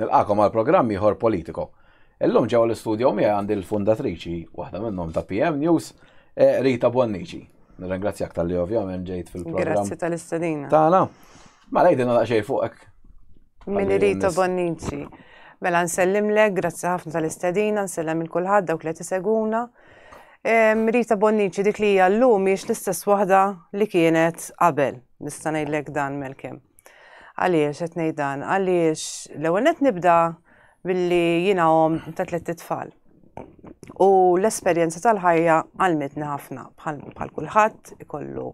Nilqakom għal programm ieħor politiko. Illum ġew l-istudju miegħi għandi l-fundatriċi waħda minnhom ta' PM News, eh, Rita Bonnici. Nirringrazzjak tal-li ovvjament ġejt fil-programm. Grazzi tal-istadina. Tana, ma lajdin għal xej fuqek. Min Rita Bonnici. Mela nsellimlek, grazzi ħafna tal-istadina, nsellem il-kulħadd dawk li tiseguna. Rita Bonnici dik li hija llum mhijiex l-istess waħda li kienet qabel. Nista' ngħidlek dan melkem. Għaliex qed ngħid dan? Għaliex l-ewwel nett nibda billi jiena om ta' tliet tfal. U l-esperjenza tal-ħajja għalmitni ħafna bħal kulħadd ikollu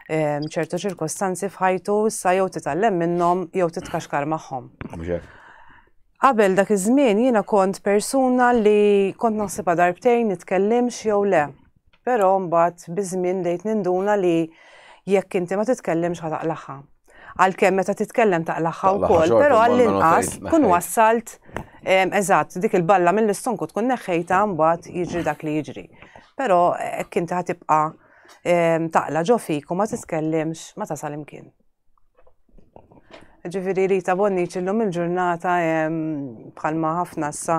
ehm, ċertu ċirkostanzi f'ħajtu issa jew titgħallem minnhom jew titkaxkar magħhom. Qabel dak iż-żmien jiena kont persuna li kont naħsibha darbtejn nitkellimx jew le. Però mbagħad biż-żmien dejt ninduna li jekk inti ma titkellimx ħa taqlaħħa. Għalkemm meta titkellem taqlaħħa wkoll, però għall-inqas tkun wassalt eżatt dik il-balla mill-istonku tkun neħħejta mbagħad jiġri dak li jiġri. Però hekk inti ħatibqa' taqla ġo fik u ma titkellimx ma tasal imkien. Ġifiri Rita Bonniċ illum il-ġurnata bħalma ħafna sa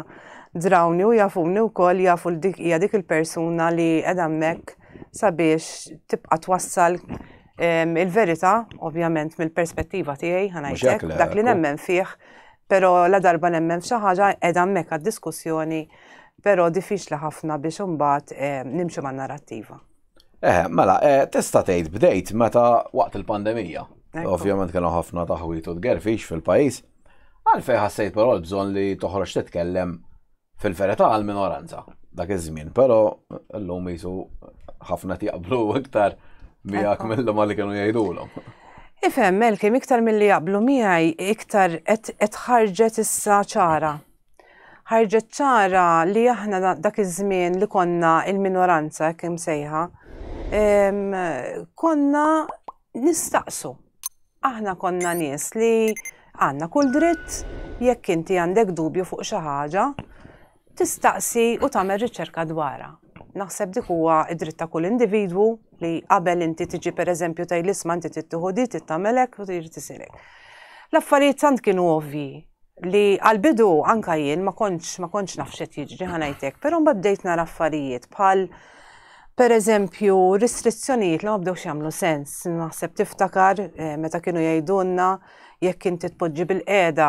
drawni u jafuni u koll jafu dik hija dik il-persuna li edha mek sabiex tibqa twassal il-verita, ovvjament mill-perspettiva tiegħi ħanajtek, dak li nemmen fih, pero la darba nemmen f'xi ħaġa edha mek għad-diskussjoni, pero diffiċli ħafna biex imbagħad nimxu man-narrattiva. Eħe, mela, eh, tista' tgħid bdejt meta waqt il-pandemija. Ovvjament kienu ħafna taħwit u tgerfix fil-pajjiż. Għalfej ħassejt però l-bżonn li toħroġ titkellem fil-verità għal minoranza dak iż-żmien, però llum jisu ħafna jaqblu iktar miegħek mill-lum li kienu jgħidulhom. Ifhem, Melkim, iktar mill-li jaqblu miegħi iktar qed ħarġet issa ċara ħarġet ċara li aħna dak iż-żmien li konna il-minoranza kemm sejħa, konna nistaqsu. Aħna konna nies li għandna kull dritt jekk inti għandek dubju fuq xi ħaġa, tistaqsi u tagħmel riċerka dwarha. Naħseb dik huwa id-dritt ta' kull individwu li qabel inti tiġi pereżempju tgħid l-isma inti tittieħu di titagħmelek u trid tisilek. L-affarijiet tant kienu ovvji li għal-bidu anka jien ma kontx ma kontx naf x'qed jiġri ħanajtek, però mbagħad bdejt nara affarijiet bħal Per eżempju, restrizzjonijiet li ma bdewx jagħmlu sens, naħseb tiftakar eh, meta kienu jgħidulna jekk inti tpoġġi bil-qeda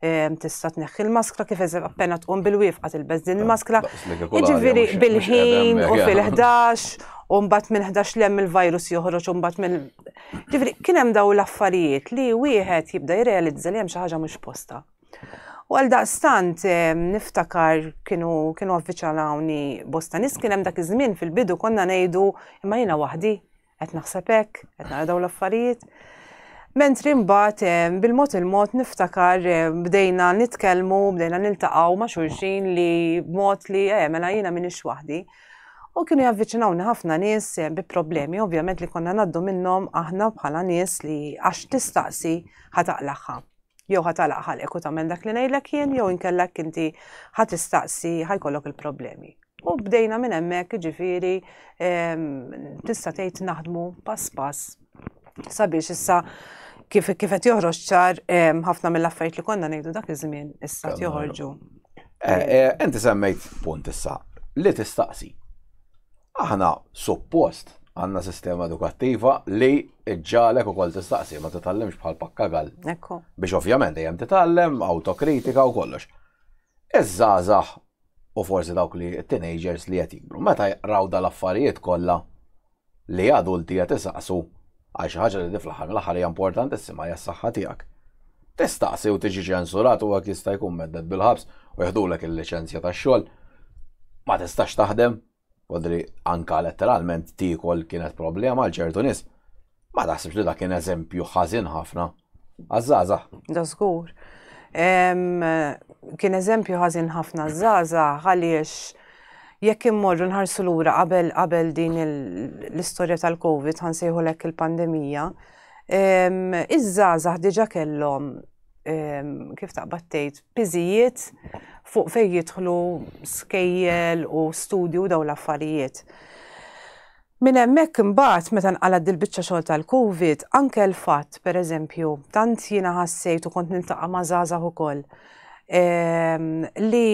Ehm, tista' tneħħi l-maskra kif eżem appena tqum bil-wifqa tilbeż din il-maskra. Jiġifieri bil-ħin u fil-11 u mbagħad minn 11 lem il-virus joħroġ u mbagħad minn. Ġifieri kien hemm daw l-affarijiet li wieħed jibda jirrealizza li hemm xi ħaġa mhux posta. U għal daqstant ehm, niftakar kienu kienu avviċalawni bosta nis kien hemm dak iż-żmien fil-bidu konna ngħidu imma jiena waħdi Qed naħseb hekk, qed nara dawn l-affarijiet. Mentri mbagħad eh, bil-mod il-mod niftakar eh, bdejna nitkellmu, bdejna niltaqgħu ma' xulxin li b'mod li eh, mela jiena minix waħdi. U kienu javviċinawni ħafna nies eh, bi problemi, ovvjament li konna naddu minnhom aħna bħala nies li għax tistaqsi ħataqlaħħa. Jew ħa talaq ħalqek u tagħmel dak li ngħidlek jien, jew inkella hekk inti ħa tistaqsi ħajkollok il-problemi. U bdejna minn hemmhekk jiġifieri ehm, tista' tgħid naħdmu pass pass sabiex issa kif kif qed joħroġ ċar ħafna mill-affarijiet li konna ngħidu dak iż-żmien issa joħorġu. Eh, eh, inti semmejt punt issa li tistaqsi. Aħna suppost għandna sistema edukattiva li ġġalek ukoll tistaqsi ma titgħallimx bħal pakkagall. Ekku. Biex ovvjament dejjem titgħallem, autokritika u kollox. Iż-żgħażagħ u forsi dawk li teenagers li qed jikbru, meta jaqraw dal-affarijiet kollha li adulti qed isaqsu għal xi ħaġa li fl-aħħar mill-aħħar hija importantissima hija s-saħħa tiegħek tistaqsi u tiġi ċensurat u għak jista' jkun medded bil-ħabs u jħdulek il-licenzja ta' xogħol. Ma tistax taħdem, Podri anka letteralment tiekol kienet problema għal ċertu nies. Ma taħsibx li dak kien eżempju ħażin ħafna għaż-żgħażagħ. Da żgur. Kien eżempju ħażin ħafna żgħażagħ għaliex jekk immorru nħarsu lura qabel qabel din l-istorja tal-COVID ħansejħu lek il-pandemija, iż-żgħażagħ diġà kellhom ehm, kif taqbad tgħid, piżijiet fuq fejn jidħlu skejjel u studju daw l-affarijiet. Min hemmhekk imbagħad meta nqalad dil-biċċa xogħol tal-COVID, anke l-fatt pereżempju, tant jiena ħassejt u kont nintaqa' ma' żgħażagħ ukoll ehm, li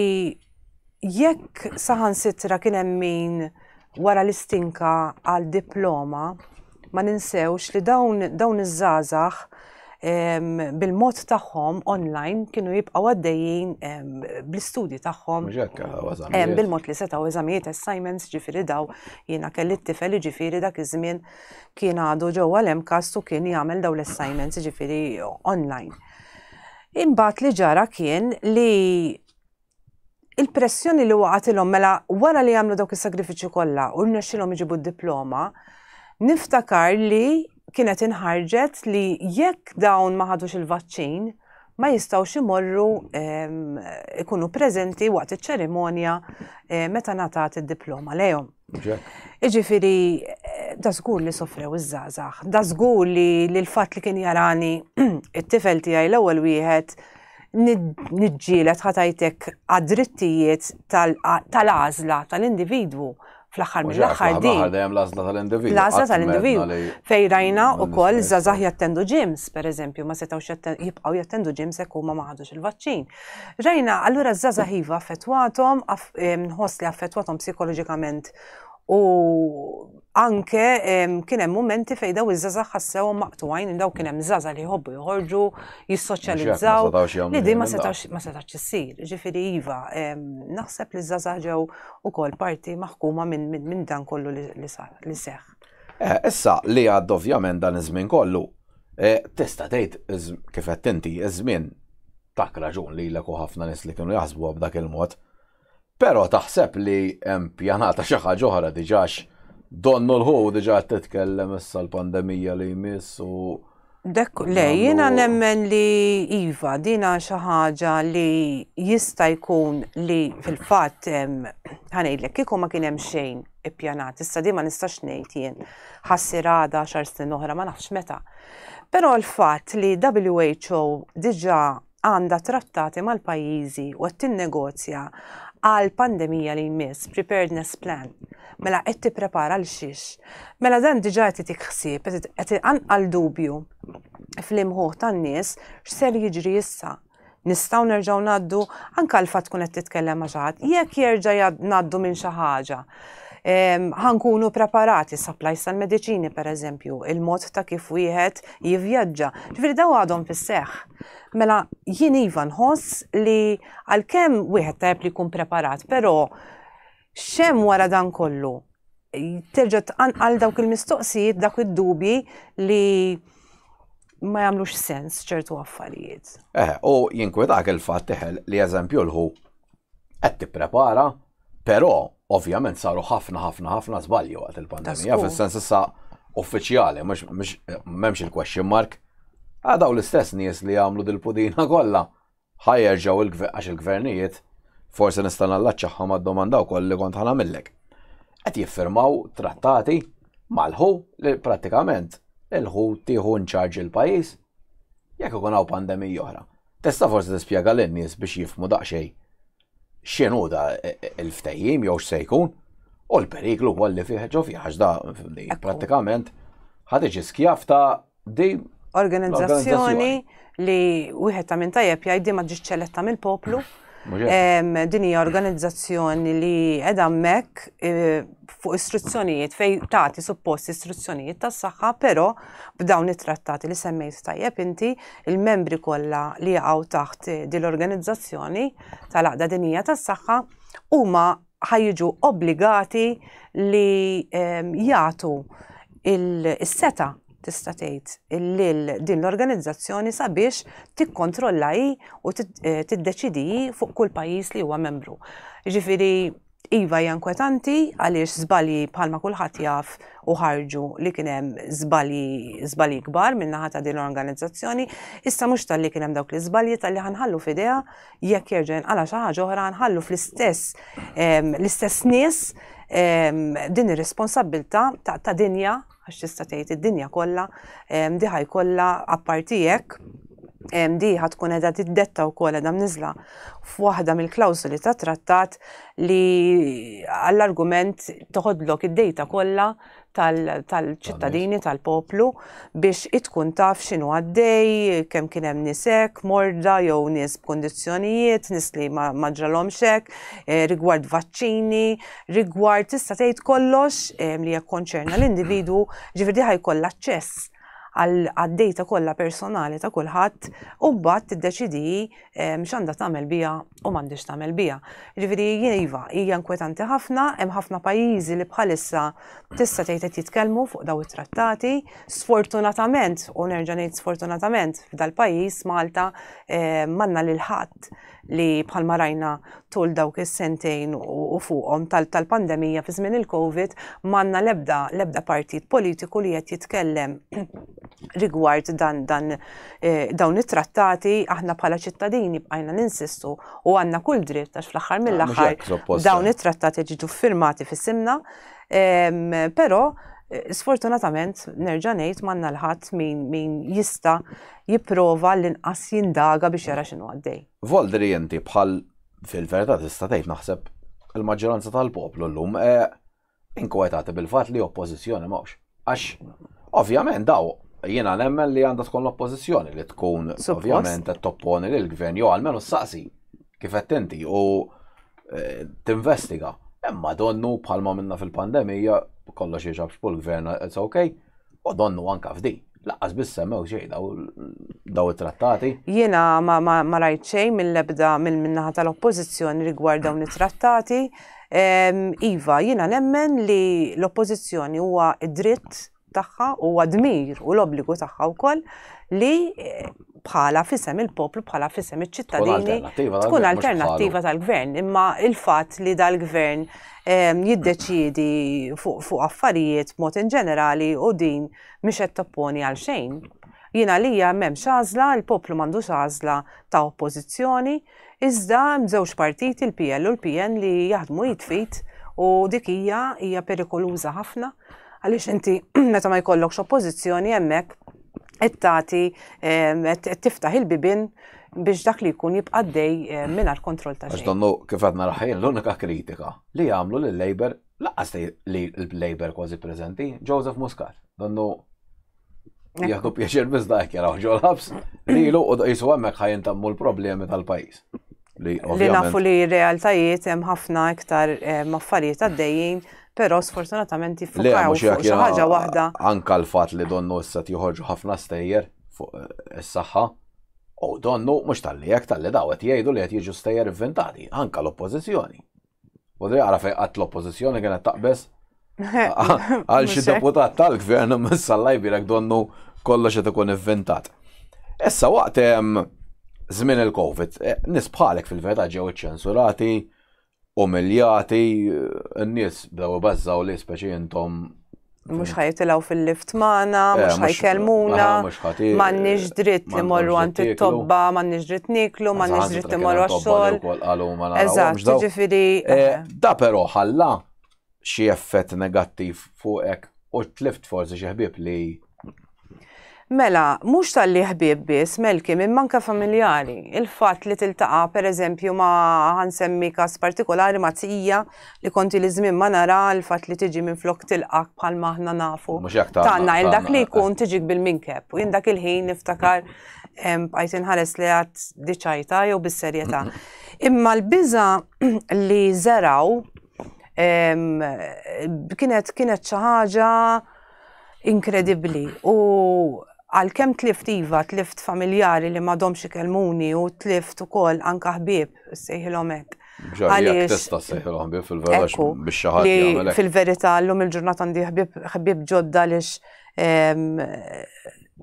Jekk saħansitra kien hemm min wara l-istinka għal diploma, ma ninsewx li dawn dawn iż-żgħażagħ bil-mod tagħhom online kienu jibqgħu għaddejjin bl-istudji tagħhom. Bil-mod li setgħu eżamijiet assignments ġifieri daw jiena kelli t-tifel ġifieri dak iż-żmien kien għadu ġewwa l-MCAS u kien jagħmel daw l-assignments ġifieri online. Imbagħad li ġara kien li il-pressjoni li waqatilhom mela wara li għamlu dawk is-sagrifiċċju kollha u rnexxilhom iġibu d-diploma, niftakar li kienet inħarġet li jekk dawn ma ħadux il-vaċċin ma jistgħux imorru ehm, ikunu preżenti waqt iċ-ċerimonja eh, meta ngħatat id-diploma lejhom. Iġifieri eh, da żgur li sofrew iż-żgħażagħ, da żgur li l-fatt li kien jarani it-tifel tiegħi l-ewwel wieħed niġġielet ħatajtek għad-drittijiet tal-għażla tal-individwu fl-aħħar mill-aħħar di. Għadajem l-għażla tal-individwu. L-għażla tal-individwu. Fej rajna u koll zazah jattendu ġims, per eżempju, ma setawx jibqaw jattendu ġims ekku ma maħadux il-vaċċin. Rajna, allura zazah jiva affettwatom, nħos li affettwatom psikoloġikament u anke kien hemm mumenti fejn daw iż-żgħażagħ ħassewhom maqtugħin minn dawk kien hemm żgħażagħ li jħobbu joħorġu, jissoċjalizzaw. Li din ma setax ma setax issir. Ġifieri iva, naħseb li żgħażagħ ġew ukoll parti maħkuma minn dan kollu li sar li seħħ. Eh, issa li għad ovvjament dan iż-żmien kollu, eh, tista' tgħid kif qed inti iż-żmien tak raġun li l ħafna nies li kienu jaħsbu b'dak il-mod. Pero taħseb li hemm pjanata xi ħaġa oħra diġax donnu l-ħu diġa qed titkellem issa l-pandemija li jmiss u Dek, le, jina nemmen li Iva, dina xaħġa li jista jkun li fil-fat ħanejlek, kiku ma kienem xejn ippjanat, issa di ma nistax nejt jien, ħassir għada xar snin oħra, ma nafx meta. Pero l-fat li WHO diġa għandha trattati mal-pajjiżi u qed tinnegozja għal pandemija li jmiss, preparedness plan. Mela qed tipprepara l xiex. Mela dan diġà qed itik ħsieb, qed għal dubju fl-imħuħ tan-nies x'ser jiġri issa. Nistgħu nerġgħu ngħaddu anke l fatt tkun qed titkellem ma' xi ħadd, jekk jerġa' ngħaddu minn xi ħaġa. ħankunu preparati supplies tal-mediċini per eżempju, il-mod ta' kif wieħed jivvjaġġa. Ġifieri daw għadhom fis-seħħ. Mela jien iva nħoss li għalkemm wieħed tajb li jkun preparat, però xem wara dan kollu terġa' tqanqal dawk il-mistoqsijiet, dak id-dubji li ma jagħmlux sens ċertu affarijiet. Eh, u jinkwetak il-fatt teħel li eżempju l-ħu qed tipprepara Però, ovvjament saru ħafna ħafna ħafna żbalji waqt il-pandemija, fis-sens issa uffiċjali, m'hemmx il-question mark. Għadaw l-istess nies li jagħmlu dil-pudina kollha ħajerġgħu għax il-gvernijiet forsi nista' nallaċċaħħa mad-domanda wkoll li kont ħanamillek. Qed jiffirmaw trattati mal-ħu li prattikament il-ħu tieħu nċarġ il-pajjiż jekk ikun hawn pandemija oħra. Tista' forsi tispjega lin-nies biex jifmu daqsxejn x'inhu da l-ftehim jew x'se jkun u l-periklu wkoll li fih ġo fih għax da prattikament ħa tiġi skjav ta' di organizzazzjoni li wieħed ta' minn tajjeb jgħid di ma ġietx ċeletta mill-poplu. Din hija organizzazzjoni li qed hemmhekk e, fuq istruzzjonijiet fej tagħti suppost istruzzjonijiet tas-saħħa, però b'dawn it-trattati li semmejt tajjeb inti il-membri kollha li jaqgħu taħt din l-organizzazzjoni tal-Għaqda Dinjija tas-Saħħa huma ħajġu obbligati li ehm, jagħtu il-seta tista' tgħid lil din l-organizzazzjoni sabiex tikkontrolla hi u eh, tiddeċidi fuq kull pajjiż li huwa membru. Ġifieri Iva hija inkwetanti għaliex żbalji bħalma kulħadd jaf u ħarġu li kien hemm żbalji żbalji kbar minn naħa ta' din l-organizzazzjoni, issa mhux talli kien hemm dawk l-iżbalji talli ħanħallu f'idea jekk jerġa' jinqala' xi ħaġa oħra nħallu fl-istess ehm, l-istess nies ehm, din ir-responsabbiltà ta' dinja għax tista' tgħid id-dinja kollha, di ħaj kollha apparti hekk, di ħad tkun qiegħda tiddetta wkoll qiegħda mniżla f'waħda mill-klawsoli ta' trattat li għall-argument toħodlok id-dejta kollha tal-ċittadini tal-poplu biex itkun taf x'inhu għaddej, kemm kien hemm nisek, morda jew nies b'kondizzjonijiet, nies li ma ġralhomx hekk, eh, rigward vaċċini, rigward tista' tgħid kollox ehm, li jekkonċerna l-individwu, ġifieri ħajkollha aċċess għad-data kollha personali ta' kulħadd u mbagħad tiddeċidi ehm, x'għandha tagħmel biha u m'għandix tagħmel biha. Ġifieri jiva, hija inkwetanti ħafna, hemm ħafna pajjiżi li bħalissa tista' tgħid qed jitkellmu fuq daw it-trattati. Sfortunatament, u nerġa' ngħid sfortunatament f'dal-pajjiż Malta ehm, manna lil ħadd li bħalma rajna tul dawk is-sentejn u fuqhom tal-pandemija fi żmien il-Covid m'għandna l-ebda l-ebda partit politiku li qed jitkellem rigward dan dan eh, dawn it-trattati aħna bħala ċittadini bqajna ninsistu u għandna kull dritt għax fl-aħħar ah, mill-aħħar dawn it-trattati ġiġu firmati fis-simna però eh, sfortunatament nerġa' ngħid m'għandna l-ħadd min jista' jipprova għall-inqas jindaga biex jara x'inhu għaddej. Voldri inti bħal fil-verità tista' tgħid naħseb il-maġġoranza tal-poplu llum eh, inkwetati bil-fatt li oppożizzjoni m'hawnx. Għax ovvjament daw jiena nemmen li għandha tkun l-oppożizzjoni li tkun ovvjament qed topponi lil gvern jew għalmenu saqsi kif qed inti u eh, tinvestiga. Imma donnu bħalma minna fil-pandemija kollox jiġab xpul gvern it's okay. U donnu anka f'di, laqqas biss semmew xejn daw it-trattati. Jiena ma rajt xejn mill-ebda mill-minnaħa tal-oppożizzjoni rigward dawn it-trattati. Iva, jiena nemmen li l-oppożizzjoni huwa id-dritt tagħha, huwa dmir u l-obbligu tagħha wkoll li bħala fisem il-poplu, bħala fisem iċ-ċittadini, tkun alternattiva tal-gvern. Imma il-fat li dal-gvern ehm, jiddeċidi fuq affarijiet mod in ġenerali u din mhix qed topponi għal xejn. Jina li memx għażla, il-poplu m'għandux għażla ta' oppożizzjoni, iżda mżewġ partiti il-PL u l-PN li jaħdmu jitfit u dik hija hija perikoluża ħafna għaliex inti meta ma jkollokx oppożizzjoni hemmhekk qed tagħti qed tiftaħ il-bibien biex dak li jkun jibqa' dej eh, mingħajr kontroll ta' xejn. Donnu kif għadna raħħin l-unika kritika li jagħmlu lil Labour laqas li l-Labour kważi preżenti Joseph Muscat. Donnu jieħdu pjaċir biżda jekk jaraw ġol ħabs li lu u jisu hemmhekk ħajintammu l-problemi tal-pajjiż. li nafu li realtajiet hemm ħafna iktar maffarijiet għaddejjin, però sfortunatament jiffukaw fuq xi ħaġa waħda. Anka l-fatt li donnu issa joħorġu ħafna stejjer fuq eh, is-saħħa. U donnu mhux tal-li jekk tal-li dawet jgħidu li qed jiġu stejjer inventati, anka l-oppożizzjoni. Bodri għara fej għat l-oppozizjoni kienet taqbes. Għal xi deputat tal-gvern mis-sallaj birek donnu kollox qed ikun ivvintat. Issa waqt żmien il-Covid, eh, nis bħalek fil-verità ġew iċċensurati, umiljati, n-nies bdew ibażżaw li speċi intom Mux ħajtilgħu fil-lift magħna, eh, mhux ħajkelmuna, m'għandniex dritt li morru għand it-tobba, m'għandniex dritt niklu, m'għandniex dritt li morru għax-xogħol. Eżatt, ġifieri. Eh, eh. Da però ħalla xi effett negattiv fuqek u tlift forsi xi ħbieb li Mela, mhux talli ħbieb biss, Melkim, imma anke familjari. Il-fatt li tiltaqa' pereżempju ma ħansemmi każ partikolari ma' tija li konti li żmien ma nara l-fatt li tiġi minn flok tilqak bħal ma aħna nafu. Tanna il dak li jkun tiġik bil-minkeb u jien dak il-ħin niftakar bqajt inħares li għad diċajta jew bis-serjetà. Imma l-biża li żeraw kienet kienet xi ħaġa Inkredibbli u għalkemm tlift iva, tlift familjari li m'għadhomx ikellmuni u tlift ukoll anke ħbieb sejħilhom hekk. Għaliex tista' sejħilhom ħbieb fil-verax biex xi ħadd jagħmel. Fil-verità llum il-ġurnata għandi ħbieb ġodda għaliex ehm,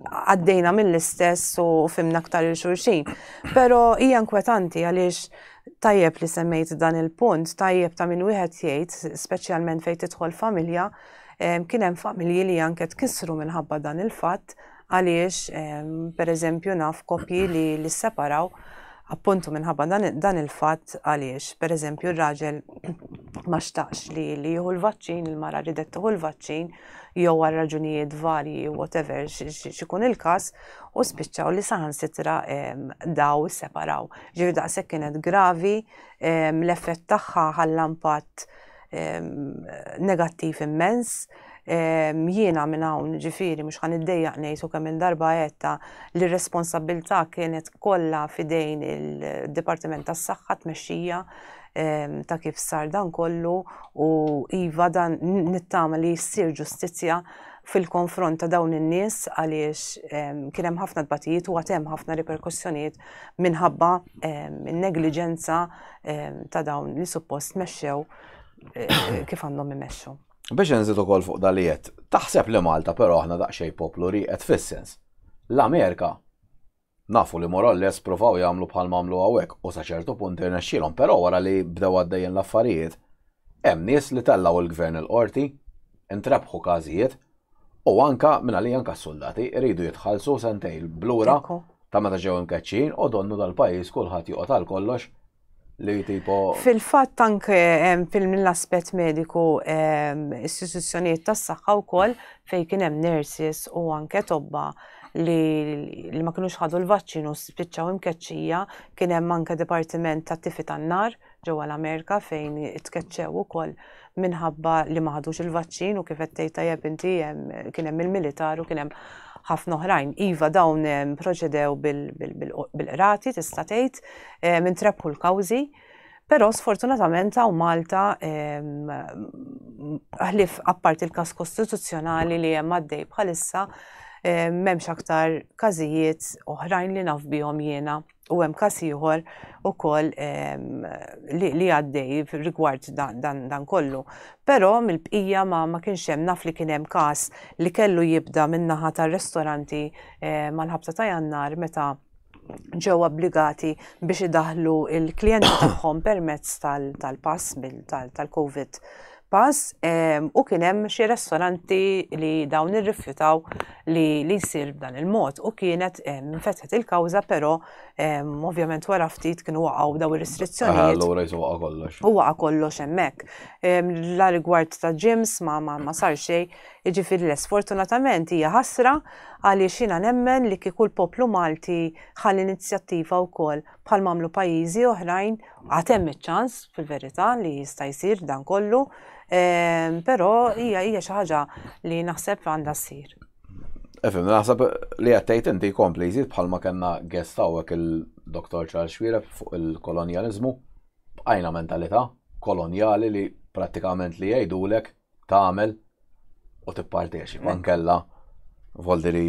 għaddejna mill-istess u fimna aktar il-xurxin. Pero hija inkwetanti għaliex tajjeb li semmejt dan il-punt, tajjeb ta' minn wieħed jgħid, speċjalment fejn tidħol familja, Kien hemm familji li anke tkissru minħabba dan il-fatt għaliex pereżempju naf koppji li l-separaw appuntu minħabba dan il-fatt għaliex pereżempju r-raġel ma xtaqx li li jieħu l-vaċċin, il-mara ridet tieħu l-vaċċin jew għal raġunijiet varji whatever xikun il-każ u spiċċaw li saħansitra daw separaw. Ġifieri daqshekk kienet gravi l-effett tagħha ħalla impatt negattiv immens, jiena minn hawn ġifieri mhux ħan iddejjaq ngħid u kemm il-darba għedta li r-responsabilità kienet kollha fidejn il-Dipartiment tas-Saħħa tmexxija ta' kif sar dan kollu u iva dan nittama li ssir ġustizzja fil-konfront ta' dawn in-nies għaliex kien hemm ħafna tbatijiet u għad hemm ħafna riperkussjonijiet minħabba n-negliġenza ta' dawn li suppost mexxew kif għandhom imexxu. Biex nżid ukoll fuq dalijiet, taħseb li Malta però aħna daqsxejn poplu rieqed fis-sens. L-Amerika nafu li morolles provaw jagħmlu bħal mamlu hawnhekk u sa ċertu punt irnexxielhom, però wara li bdew għaddejjin l-affarijiet, hemm nies li tellgħu l-gvern il-qorti, intrebħu każijiet U anka, minn għalija anka s-soldati iridu jitħallsu sentejn blura ta' meta ġew imkeċċin u donnu dal-pajjiż kulħadd joqgħod għal kollox li tipo. Fil-fatt anke mill-aspett mediku istituzzjonijiet tas-saħħa wkoll fejn kien hemm nurses u anke tobba li ma kinux ħadu l-vaċċin u spiċċaw imkeċċija kien hemm anke dipartiment tat-tifi tan-nar ġewwa l-Amerika fejn itkeċċew ukoll minħabba li ma ħadux il-vaċċin u kif qed tgħid tajjeb inti kien hemm il-militar u kien hemm ħafna oħrajn. Iva dawn proċedew bil-qrati tista' tgħid minn trebħu l-kawżi. Però sfortunatament hawn Malta ħlif apparti l-każ kostituzzjonali li hemm għaddej bħalissa m'hemmx aktar każijiet oħrajn li naf bihom jiena U hemm każ ieħor ukoll ehm, li għaddej rigward dan kollu. Però mill-bqija ma, ma kienx hemm naf li kien hemm każ li kellu jibda min-naħa tar-ristoranti eh, mal-ħabta ta' jannar meta ġew obbligati biex idaħlu il-klijenti tagħhom permezz tal-pass tal-COVID pass u kien hemm xi restoranti li dawn irrifjutaw li li jsir b'dan il-mod u kienet fetħet il-kawża però ovvjament wara ftit kienu waqgħu daw ir-restrizzjonijiet. Allura jisu waqa' kollox. U waqa' kollox hemmhekk. La rigward ta' ġims ma ma sar xejn, jiġifieri les fortunatament hija ħasra għaliex jiena nemmen li kieku l-poplu Malti ħa l-inizjattiva wkoll bħal mamlu pajjiżi oħrajn għad hemm iċ-ċans fil-verità li jista' jsir dan kollu, ehm, però hija hija xi ħaġa li naħseb għandha ssir. Efem, naħseb li għattajt inti kompli jżid bħalma kena guest għawek il-Dr. Charles Xwira fuq il-kolonializmu, b'għajna mentalità koloniali li pratikament li jgħidulek tagħmel u tipparteċipa mm. nkella voldi li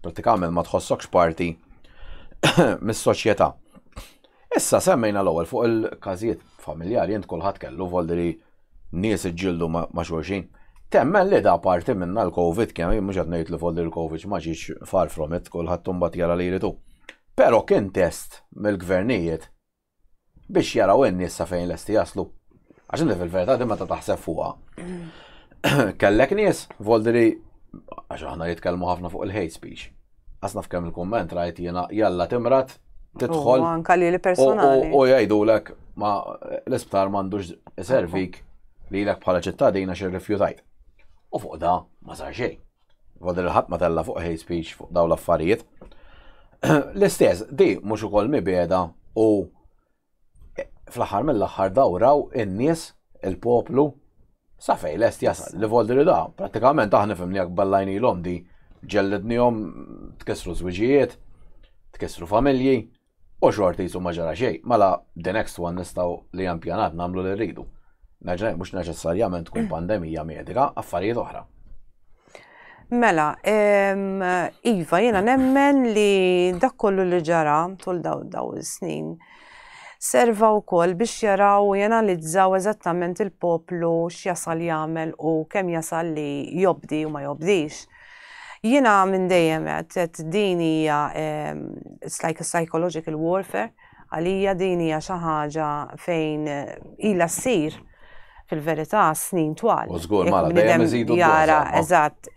pratikament ma tħossokx parti mis-soċjetà. Issa semmejna l-ewwel fuq il-każijiet familjari jent kulħadd kellu voldi li nies iġġildu ma' xulxin. Temmen li da parti minna l-Covid kemm mhux qed ngħid li voldi l-Covid ma ġiex far from it kulħadd imbagħad jara li jridu. Però kien test mill-gvernijiet biex jaraw in-nies sa fejn lesti jaslu. Għax inti fil-verità din meta taħseb fuqha. Kellek nies voldiri għax aħna jitkellmu ħafna fuq il-hate speech. Asna f'kemm il-kumment rajt jiena jalla timrat tidħol. Anka li personali. U jgħidulek ma l-isptar m'għandux servik li l-ek bħala ċittadina xi rifjutajt. U fuq da ma sar xejn. Fadil il-ħadd ma tella' fuq hate speech fuq dawn l-affarijiet. L-istess, di mhux ukoll mibeda u fl-aħħar mill-aħħar dawraw in-nies, il-poplu, sa fej lest jasal. Li voldi li da, pratikament aħna fimni jak ballajni l-om di ġellidnihom tkissru żwiġijiet, tkissru familji, U xorti jisu ma ġara xejn, mela the next one nistgħu li hemm pjanat nagħmlu li rridu. Naġna mhux neċessarjament tkun mm. pandemija medika, affarijiet oħra. Mela, Iva, jena nemmen li dak kollu li ġara tul daw daw snin serva u koll biex jaraw u jenalizzaw eżattament il-poplu x'jasal jagħmel u kemm jasal li jobdi u ma jobdix. Jiena minn dejjem għedt, għedt din hija it's like a psychological warfare, għalija din hija xi ħaġa fejn ilha ssir fil-verità snin twal. U żgur mara dejjem iżidu jara eżatt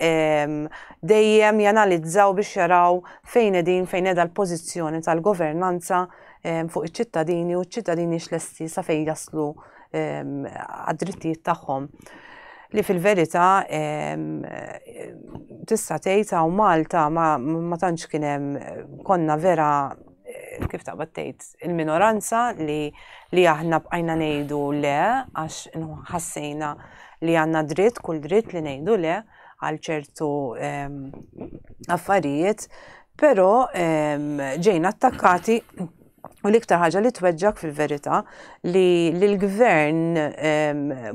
dejjem janalizzaw biex jaraw fejn qegħdin fejn qiegħda l-pożizzjoni tal-governanza fuq iċ-ċittadini u ċ-ċittadini x'lesti sa fejn jaslu għad-drittijiet tagħhom li fil-verità tista' tgħid hawn Malta ma tantx kien hemm konna vera eh, kif taqbad tgħid il-minoranza li li aħna bqajna ngħidu le għax ħassejna li għandna dritt kull dritt li ngħidu le għal ċertu affarijiet, però ġejna attakkati U l-iktar ħaġa li tweġġak fil-verità li l-gvern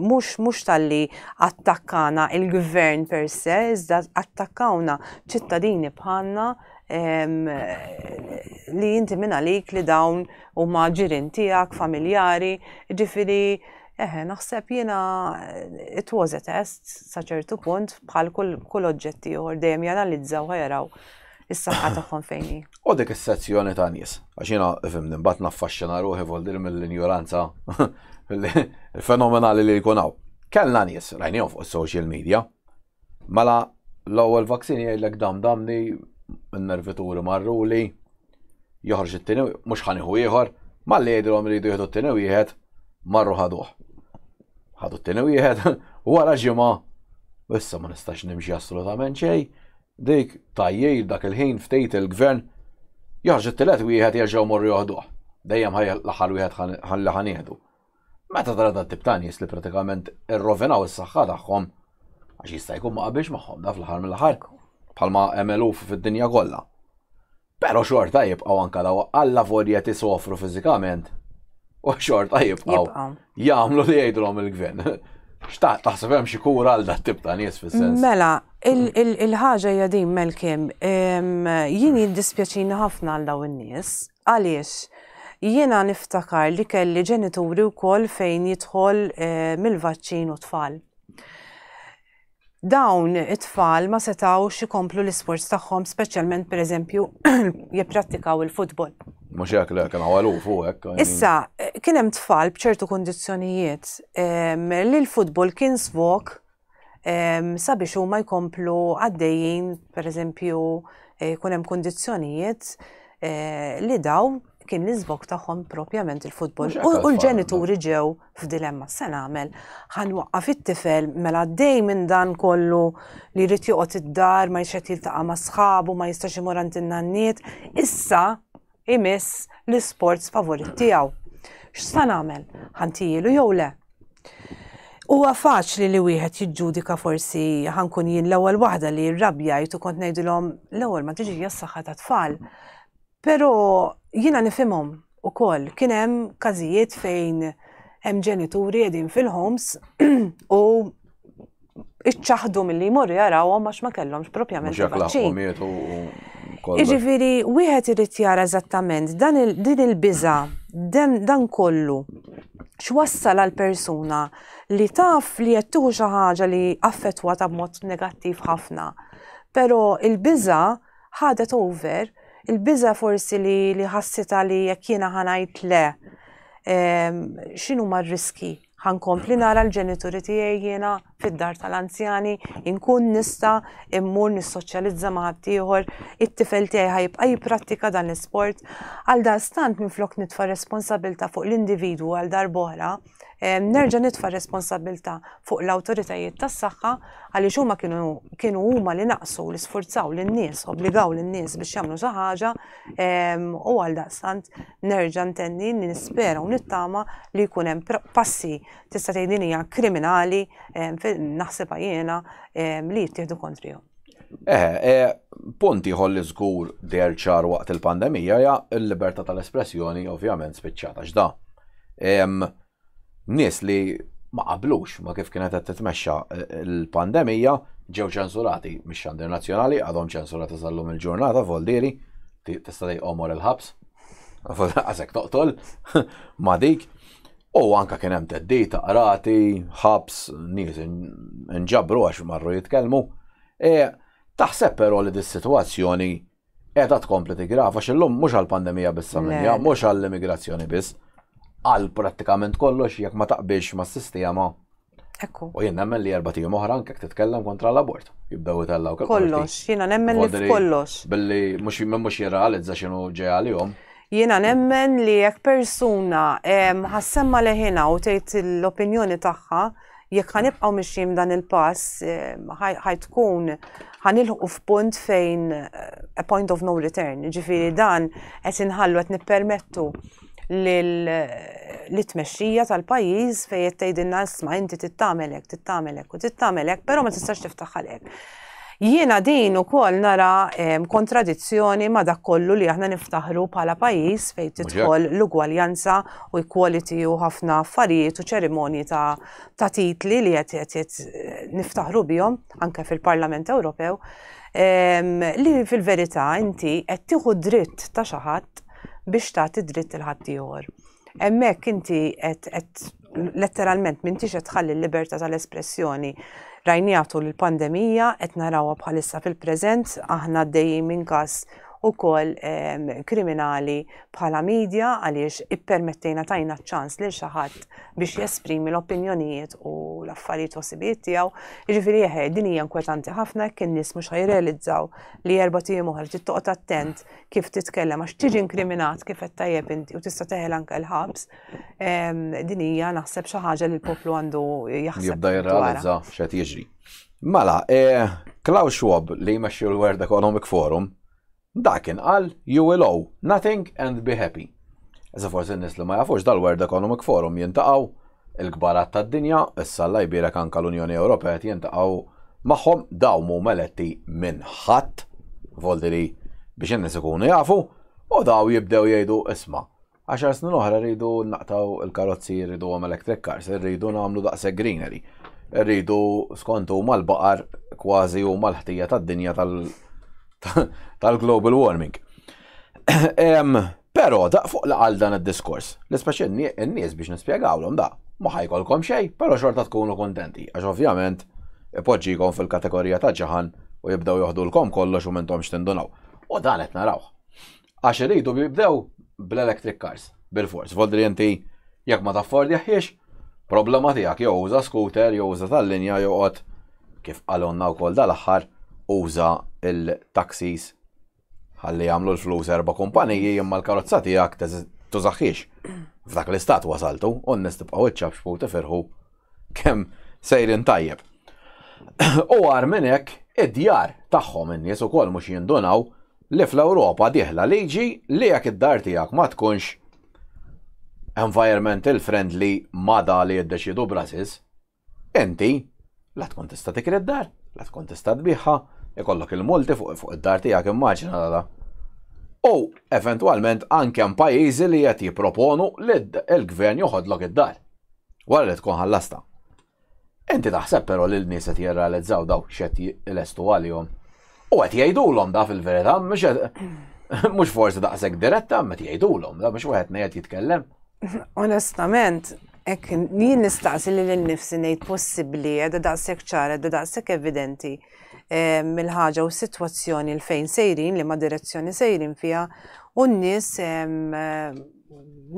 mhux mhux talli attakkana il-gvern per se, iżda attakkawna ċittadini bħalna li inti minn għalik li dawn huma ġirin tiegħek, familjari, ġifiri Eħe, naħseb jiena it was a test sa ċertu punt bħal kull oġġetti ieħor dejjem janalizzaw ħajaraw is-saħħa tagħhom fejn hi. U dik is-sezzjoni ta' nies, għax jiena fimni mbagħad naffaxxina ruħi voldir mill-injoranza fenomenali li jkun hawn. Kellna nies, rajnihom fuq is-social media, mela l-ewwel vaksini jgħidlek dam damni n-nervituri marruli, joħorġ it-tieni mhux ħaniħu ieħor, malli jgħidilhom iridu jieħdu t-tieni wieħed marru ħaduh. Ħadu t-tieni wieħed, wara ġimgħa issa ma nistax nimxi assolutament xejn, Dik tgħajjir dak il-ħin ftit il-Gvern joħroġ it-tielet wieħed jerġgħu jmorru joħduh. Dejjem ħa l-aħħar wieħed ħa li ħa nieħdu. Meta tara dat-tip ta' nies li pratikament irrovinaw is-saħħa tagħhom għax jista' jkun ma qabilx magħhom da fl-aħħar mill-aħħar bħalma hemm eluf fid-dinja kollha. Però xorta jibqgħu anke daw alla volja tisofru fiżikament u xorta jibqgħu jagħmlu li jgħidulhom il-gvern. Xtaqt taħseb hemm xi kura għal dat tip ta' nies fis-sens. Mela, il-ħaġa hija din Melkim, jien jiddispjaċini ħafna għal daw in-nies għaliex jiena niftakar li kelli ġenituri wkoll fejn jidħol mill-vaċċin u tfal. Dawn it-tfal ma setgħux ikomplu l-isports tagħhom speċjalment pereżempju jipprattikaw il-futbol. Mhux hekk le kien għaluf u hekk. Issa kien hemm tfal b'ċertu kundizzjonijiet ehm, li l-futbol kien svok ehm, sabiex huma jkomplu għaddejjin pereżempju eh, jkun hemm kundizzjonijiet eh, li daw kien l-iżvok tagħhom propjament il-futbol. U l-ġenituri ġew f'dilemma x'se nagħmel, ħa nwaqqaf it-tifel mela għaddej minn dan kollu li jrid joqgħod id-dar, ma jixed jiltaqa' ma' sħabu, ma jistax imur għand in-nanniet, issa imiss l-isports favorit tiegħu. X'sa nagħmel? Ħantijilu jew le? Huwa faċli li wieħed jiġġudika forsi ħankun jien l-ewwel waħda li rrabjajt u kont ngħidilhom l-ewwel ma tiġi s-saħħa tat-tfal. Pero jiena nifhimhom ukoll. Kien hemm każijiet fejn hemm ġenituri qegħdin fil-homes u iċċaħdu milli jmorru jarawhom għax ma kellhomx propjament il-vaċċin. Iġifieri wieħed irid jara eżattament dan din il-biża dan kollu x'wassal għal persuna li taf li qed tieħu xi ħaġa li affettwata b'mod negattiv ħafna. Però il-biża' Ħadet over il-biża' forsi li li ħassitha li jekk jiena ħa ngħid le ehm, x'inhuma r-riski ħankompli nara l-ġenituri tiegħi jiena fid-dar tal-anzjani, inkun nista immur nissoċjalizza ma' ħaddieħor, it-tifel tiegħi ħajbqa' jipprattika dan l-isport. Għal dan stant minflok nitfa' responsabilta fuq l-individwu għal darbohra, nerġa' nitfa' r-responsabbiltà fuq l-awtoritajiet tas-saħħa għaliex huma kienu kienu huma li naqsu li sfurzaw lin-nies, obbligaw lin-nies biex jagħmlu xi ħaġa ehm, u għal daqstant nerġa' ntenni nispera u nittama li jkun hemm passi tista' tgħidinija kriminali ehm, naħseb jiena ehm, li jittieħdu kontrihom. Eħe, e, punt ieħor li żgur der ċar waqt il-pandemija ja l-libertà tal-espressjoni ovvjament spiċċata x'da. Nies li ma qablux ma kif kienet qed titmexxa e, l-pandemija ġew ċensurati mix-xandir nazzjonali għadhom ċensurati sal-lum il-ġurnata voldieri tista' omor il-ħabs. Għasek toqtol ma dik. U anke kien hemm theddid ta' qrati, ħabs, nies inġabru għax marru jitkellmu. E, taħseb però li dis-sitwazzjoni qiegħda tkompli tigrava x'illum mhux għall-pandemija biss għall-Indja, mhux għall-immigrazzjoni biss, għal prattikament kollox jekk ma taqbilx mas-sistema Ekku. U jien nemmen li erba' tijum oħra anke titkellem kontra l-abort. Jibdew itellaw kif. Kollox, jiena nemmen li kollox. Billi mhux mhux jirrealizza x'inhu ġej għalihom. Jiena nemmen li jekk persuna ħassemma leħina u tgħid l-opinjoni tagħha, jekk ħanibqgħu mixjin dan il-pass ħajtkun ħanilħu f'punt fejn a point of no return. Ġifieri dan qed inħallu qed nippermettu l-tmexxija tal-pajjiż fejn qed tgħidilna isma' inti tittamelek, tittamelek u tittamelek, però ma tistax tiftaħ għalek. Jiena din ukoll nara kontradizzjoni ma dak kollu li aħna niftaħru bħala pajjiż fejn tidħol l-ugwaljanza u equality u ħafna affarijiet u ċerimonji ta' titli li qed niftaħru bihom anke fil-Parlament Ewropew li fil-verità inti qed tieħu dritt ta' xi ħadd biex tagħti dritt il ħaddieħor. Hemmhekk inti qed letteralment m'intix qed tħalli l-libertà tal-espressjoni rajnija tul il-pandemija qed narawha bħalissa fil-preżent aħna dejjem minn każ ukoll ehm, kriminali bħala media għaliex ippermettejna tajna ċans lil xi ħadd biex jesprimi l-opinjonijiet u l-affarijiet u sibijiet tiegħu. Jiġifieri eħe din hija inkwetanti ħafna kien nies mhux ħajrealizzaw li erba' tim oħra trid toqgħod attent kif titkellem għax tiġi inkriminat kif qed tajjeb inti u tista' teħel anke l-ħabs. Din hija naħseb xi ħaġa li l-poplu għandu jaħseb. Jibda jirrealizza x'qed jiġri. Mela, eh, Klaus Schwab li jmexxi l-World Economic Forum, dakin qal you will owe nothing and be happy. Issa forsi n-nies li ma jafux dal-World Economic Forum jintaqgħu il-kbarat tad-dinja, issa Alla jbierek anke l-Unjoni Ewropea qed jintaqgħu magħhom dawn mhuma eletti minn ħadd, voldi li biex in-nies ikunu jafu, u daw jibdew jgħidu isma' għaxar snin oħra rridu naqtaw il-karozzi rridu għom electric cars, rridu nagħmlu daqshekk greenery. Rridu skont huma l-baqar kważi huma l-ħtija tad-dinja tal-global warming. Però da fuq la għal dan id-diskors, li speċi n-nies biex nispjegawlhom da, ma ħajkolkom xejn, però xorta tkunu kuntenti, għax ovvjament ipoġġikom fil-kategorija ta' ġaħan u jibdew joħdulkom kollox u m'intomx tindunaw. U dan qed narawh. Għax iridu jibdew bl-electric cars, bil-fors, voldri inti jekk ma taffordjahiex, problema tiegħek jew uża scooter jew uża tal-linja jew qgħod kif qalulna wkoll dal-aħħar uża l-taxis Ħalli jagħmlu l-flus erba' kumpaniji imma l-karozza tiegħek tużaħħiex. F'dak l-istat wasaltu, u n-nies tibqgħu iċċabxbu tifirħu kemm sejrin tajjeb. U għar minn hekk id-djar tagħhom in-nies ukoll mhux jindunaw li fl-Ewropa diħla liġi li jekk id-dar tiegħek ma tkunx environmental friendly ma da li jiddeċidu Brasis, Inti la tkun tista' tikri d-dar, la tkun tista' tbigħha, ikollok il-multi fuq id-dar tiegħek immaġina la la. U eventwalment anke hemm pajjiżi li qed jipproponu li l-gvern joħodlok id-dar wara li tkun ħallastha. Inti taħseb però li l-nies qed jirrealizzaw dawk x'qed jilestu għalihom? U qed jgħidulhom da fil-verità, mhux forsi daqshekk diretta, ma qed jgħidulhom, da biex wieħed ngħid jitkellem. Onestament, hekk jien nistaqsi lil innifsi ngħid possibbli qiegħda daqshekk ċara, qiegħda daqshekk evidenti mill-ħaġa u s-sitwazzjoni l fejn sejrin li ma direzzjoni sejrin fiha u n-nies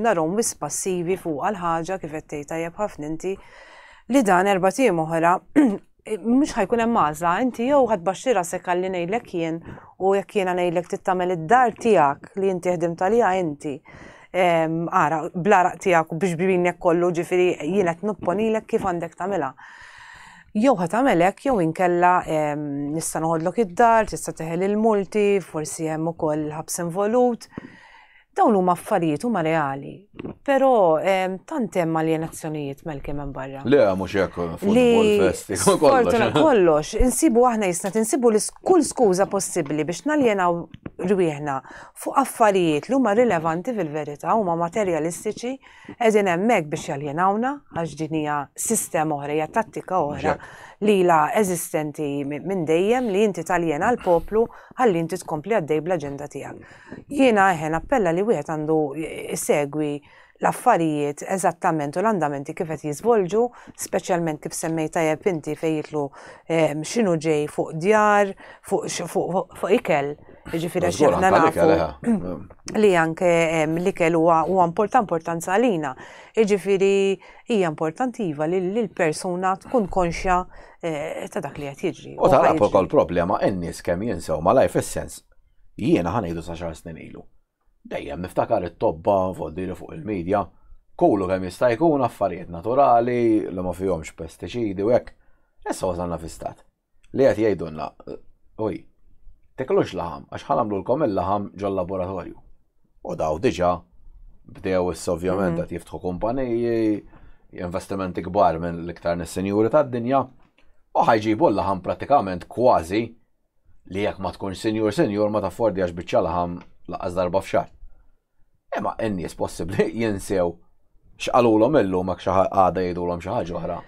narhom wis passivi fuq għal ħaġa kif qed tgħid tajjeb ħafna inti li dan erba' tim oħra mhux ħajkun hemm għażla, inti jew ħadd baxxi rasek għalli ngħidlek jien u jekk jiena ngħidlek tittamel id-dar tiegħek li inti ħdimt għaliha inti. Ara, bl-araq tiegħek u biex binek kollu ġifieri jien qed nopponilek kif għandek tagħmilha. Jew ħat għamelek, jew inkella nista' noħodlok id-dar, tista' teħel il-multi, forsi hemm ukoll ħabs involut. Dawn huma affarijiet huma reali. Però tant hemm aljenazzjonijiet Malcolm hemm barra. Le, mhux hekk football festival. Fortuna kollox, insibu aħna jisna tinsibu li kull skuża possibbli biex naljenaw rwieħna fuq affarijiet li huma rilevanti fil-verità huma materjalistiċi qegħdin hemmhekk biex jaljenawna għax din hija sistema oħra hija tattika oħra li la eżistenti minn dejjem li inti taljena l-poplu ħalli inti tkompli għaddej bl-aġenda tiegħek. Jiena eħe nappella li wieħed għandu jsegwi l-affarijiet eżattament u l-andamenti kif qed jiżvolġu, speċjalment kif semmejt tajjeb inti fejn jitlu ehm, x'inhu ġej fuq djar, fuq ikel. Ġifieri għax aħna nafu li anke ehm, l-ikel huwa importanti importanza għalina. Ġifieri hija importantiva li l-persuna tkun konxja eh, ta' dak li qed jiġri. U tara ukoll problema n-nies kemm jinsew malaj fis-sens Jiena ħanejdu sa xar snin ilu. Dejjem niftakar it-tobba voddiri fuq il-medja, kulu kemm jista' jkun affarijiet naturali li ma fihomx pestiċidi u hekk. Issa wasalna fi stat li qed jgħidulna, uj, tiklux laħam għax ħa nagħmlulkom il-laħam ġol-laboratorju. U daw diġà bdew issa ovvjament qed jiftħu kumpaniji, investimenti kbar minn l-iktar nis-sinjuri tad-dinja, u ħa jġibu l-laħam prattikament kważi li jekk ma tkunx sinjur sinjur ma taffordjax biċċa laħam laqas darba f'xahar. Imma n-nies possibbli jinsew x'qalulhom illum hekk xi għada jgħidulhom xi ħaġa oħra.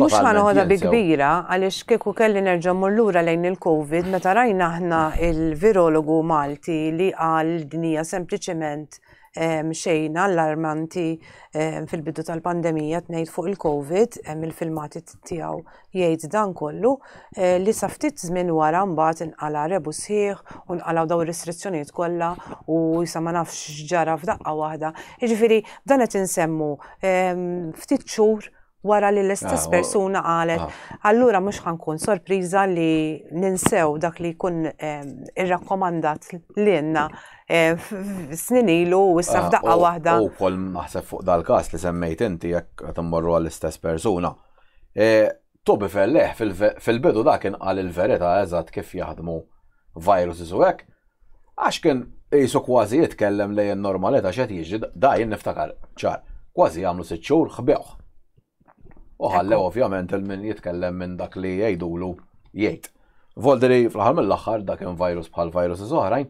Mux ħanħodha bi kbira, għalix kieku kelli nerġa mullura lejn il-Covid, meta rajna aħna il-virologu Malti li għal dinija sempliciment ehm, xejn allarmanti ehm, fil-bidu tal-pandemija tnejt fuq il-Covid, ehm, il-filmati tijaw Jgħid dan kollu li sa ftit żmien wara mbagħad inqala' rebu sħiħ u nqalgħu dawn ir-restrizzjonijiet kollha u sa ma nafx x'ġara f'daqqa waħda. Jiġifieri dan qed insemmu ehm, ftit xhur wara li l-istess ah, persuna qalet, ah. allura mhux ħankun sorpriża li ninsew dak li jkun ehm, irrakkomandat lilna ehm, snin ilu u issa ah, f'daqqa waħda. U kol naħseb fuq dal-każ li semmejt inti jekk qed immorru għall-istess persuna. Toby Felleħ fil-bidu dak kien qal il-verità eżatt kif jaħdmu viruses u hekk, għax kien qisu kważi jitkellem lejn in-normalità x'qed jiġri, da jien niftakar ċar, kważi jagħmlu sitt xhur ħbewh. U ħallew ovvjament lil min jitkellem minn dak li jgħidulu jgħid. Volderi fl-aħħar mill-aħħar da kien virus bħal viruses oħrajn,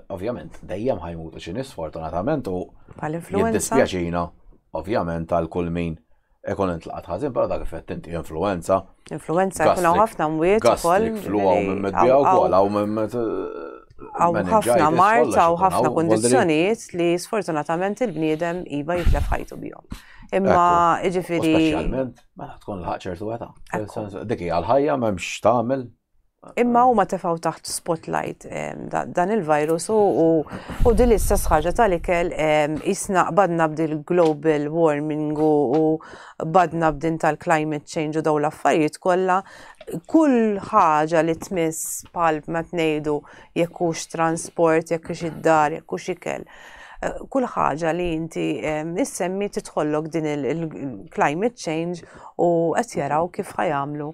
Ovvjament, dejjem ħajmutu xi nies fortunatament u jiddispjaċina, ovvjament, għal kull min ikun intlaqat ħażin, però dak effett inti influenza. Influenza jkun hawn ħafna mwiet ukoll. Flu hawn minn medbija wkoll hawn minn Għaw ħafna mart, għaw ħafna kondizjoniet li sfortunatament il-bniedem iva jitlef ħajtu bihom. Imma iġifiri. Specialment, ma mela, tkun l-ħagċer tu għeta. Dik hija l-ħajja, memx tamel, Imma huma tefgħu taħt spotlight dan il-virus u din l-istess ħaġa tal-ikel jisna badna b'dil global warming u badna b'din tal-climate change u daw l-affarijiet kollha kull ħaġa li tmiss bħal ma tnejdu jekk hux transport, jekk hux id-dar, jekk hux ikel. Eh, kull ħaġa li inti issemmi titħollok din il-climate change u qed jaraw kif ħajamlu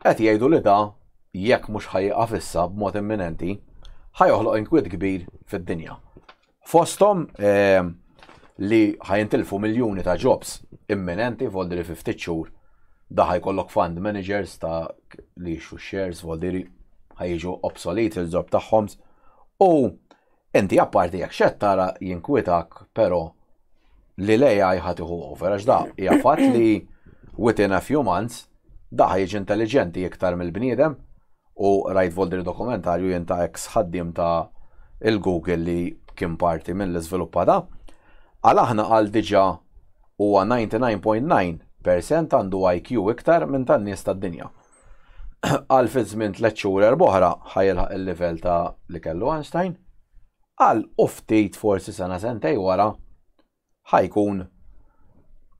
Qed jgħidu li da, jekk mhux ħa jieqaf issa b'mod imminenti, ħa joħloq inkwiet kbir fid-dinja. Fosthom li ħa jintilfu miljuni ta' jobs imminenti voldi li fi ftit xhur da ħa jkollok fund managers ta' li jixtru shares voldi li ħa jiġu obsolete il-ġob tagħhom u Inti apparti jekk x'qed tara jinkwitak però li l-AI ħa tieħu over għax da hija fatt li within a few months da ħa jiġi intelliġenti iktar mill-bniedem u rajt Volderi dokumentarju jien ta' ex ħaddiem ta' il-Google li kien parti milli żviluppa da. Għal aħna qal diġa huwa 99.9 percent għandu IQ iktar minn tan-nies tad-dinja. Qal fi żmien tliet xhur erb'oħra ħa jilħaq il-livell ta' li kellu Einstein. Qal u ftit forsi sena sentej wara ħa jkun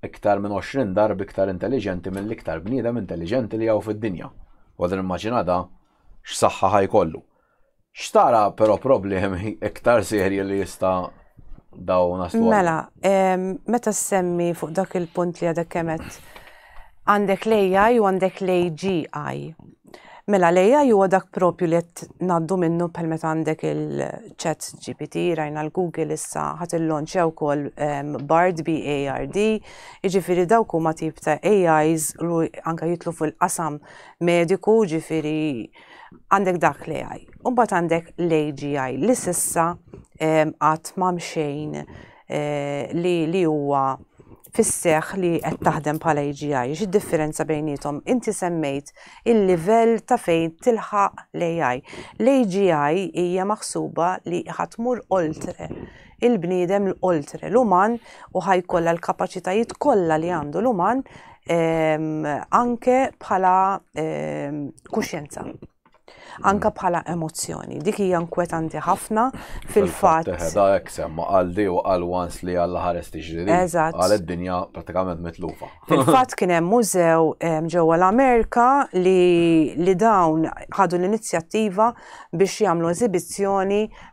iktar minn 20 darb iktar intelliġenti mill-iktar bniedem intelliġenti li hawn fid-dinja. Għodu nimmaġina da x'saħħa ħa jkollu. X'tara però problemi iktar serji li jista' daw naslu? Mela, meta semmi fuq dak il-punt li għadek kemet għandek l-AI u għandek l-AGI. Mela, l-AI huwa dak propju li qed ngħaddu minnu bħal meta għandek il-chat GPT, rajna l-Google issa ħadd il-launch wkoll Bard BARD, jiġifieri dawk huma tip ta' AIs li anke jitlu fil-qasam mediku, jiġifieri Għandek dak l-AI. Umbat għandek l-AGI li sissa għat ma mxejn eh, li li huwa fisseħ li qed taħdem bħala AGI, xi differenza bejnietom? Inti semmejt il-livell ta' fejn tilħaq l-AI. L-AGI hija maħsuba li ħatmur oltre il-bniedem l-oltre l-uman u ħa jkollha l-kapaċitajiet kollha li għandu l-uman ehm, anke bħala ehm, kuxjenza anka bħala emozzjoni. Dik hija nkwetanti ħafna fil-fatt. Teħda hekk semma għal di u għal wans li għal ħares tiġri. Eżatt. Għal id-dinja pratikament mitlufa. Fil-fatt kien hemm mużew ġewwa l-Amerika li dawn ħadu l-inizjattiva biex jagħmlu eżibizzjoni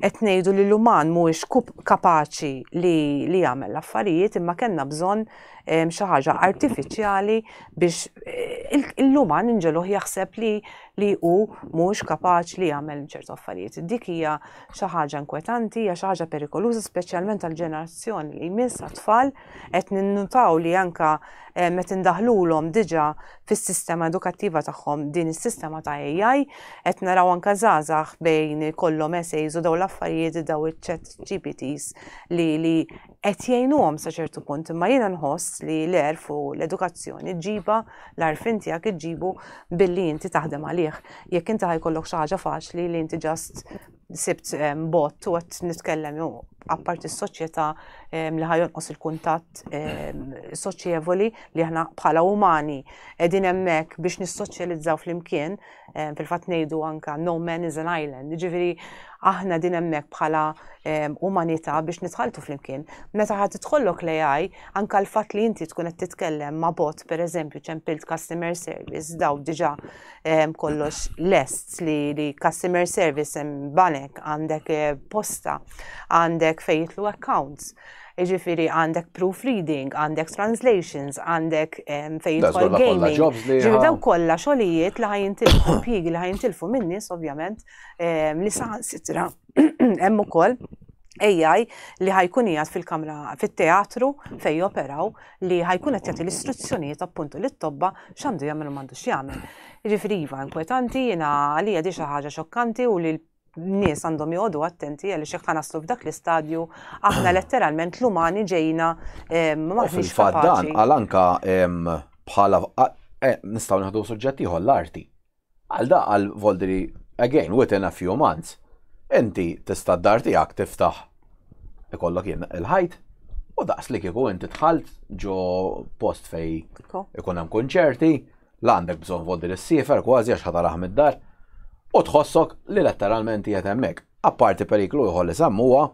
qed ngħidu li l-uman mhuwiex kapaċi li li jagħmel l-affarijiet imma kellna bżonn ehm, xi ħaġa artifiċjali biex eh, l-uman inġeluh jaħseb li li hu mhux kapaċi li jagħmel ċertu affarijiet. Dik hija xi ħaġa inkwetanti, hija xi ħaġa perikoluża speċjalment għall-ġenerazzjoni li jmiss għat-tfal Qed ninnutaw li anke qed indaħħlulhom diġà fis-sistema edukattiva tagħhom din is-sistema ta' AI, qed naraw anke żgħażagħ bejn ikollhom essays u dawn l-affarijiet daw iċ-chat GPTs li li qed jgħinuhom sa ċertu punt, imma jiena nħoss li l-għerf u l-edukazzjoni ġiba l-għarfien tiegħek iġġibu billi inti taħdem għalih. Jekk inti ħajkollok xi ħaġa faċli li inti ġast sibt bot u għat nitkellem ju apparti s-soċjetà li ħajonqos il-kuntatt soċjevoli li aħna bħala umani qegħdin hemmhekk biex nissoċjalizzaw flimkien fil-fatt ngħidu anka no man is an island. Ġifieri aħna din hemmhekk bħala umanità biex nitħaltu flimkien. Meta ħadd tidħollok l-AI anka l-fatt li inti tkun qed titkellem ma' bot pereżempju ċempilt customer service daw diġà kollox lest li li customer service hemm banek, għandek eh, posta, għandek fejn jitlu accounts. Ġifiri għandek proofreading, għandek translations, għandek fejn jitlu gaming. Ġifiri daw kollha xogħlijiet li ħajintilfu impjiegi li ħajintilfu min-nies ovvjament li saħan sitra hemm ukoll AI li ħajkun jgħat fil-kamra, fit-teatru fej operaw, li ħa jkun qed jagħti l-istruzzjonijiet appuntu lit-tobba x'għandu jagħmel u m'għandux jagħmel. Jiġifieri iva inkwetanti, jiena għalija di xi ħaġa xokkanti u li nies għandhom joqogħdu attenti għaliex jekk ħanaslu f'dak l-istadju aħna letteralment l-umani ġejna maħniex kapaċi. Dan għal anka bħala nistgħu naħdu suġġett ieħor l-arti. Għal da qal Volderi again within a few months inti tista' d-dar tiegħek tiftaħ ikollok jien il-ħajt u daqs li kieku inti dħalt ġo post fej ikun hemm kunċerti la għandek bżonn Volderi s-sifer kważi għax ħataraħ mid-dar u tħossok li letteralment qiegħed hemmhekk. Apparti periklu ieħor li semmuha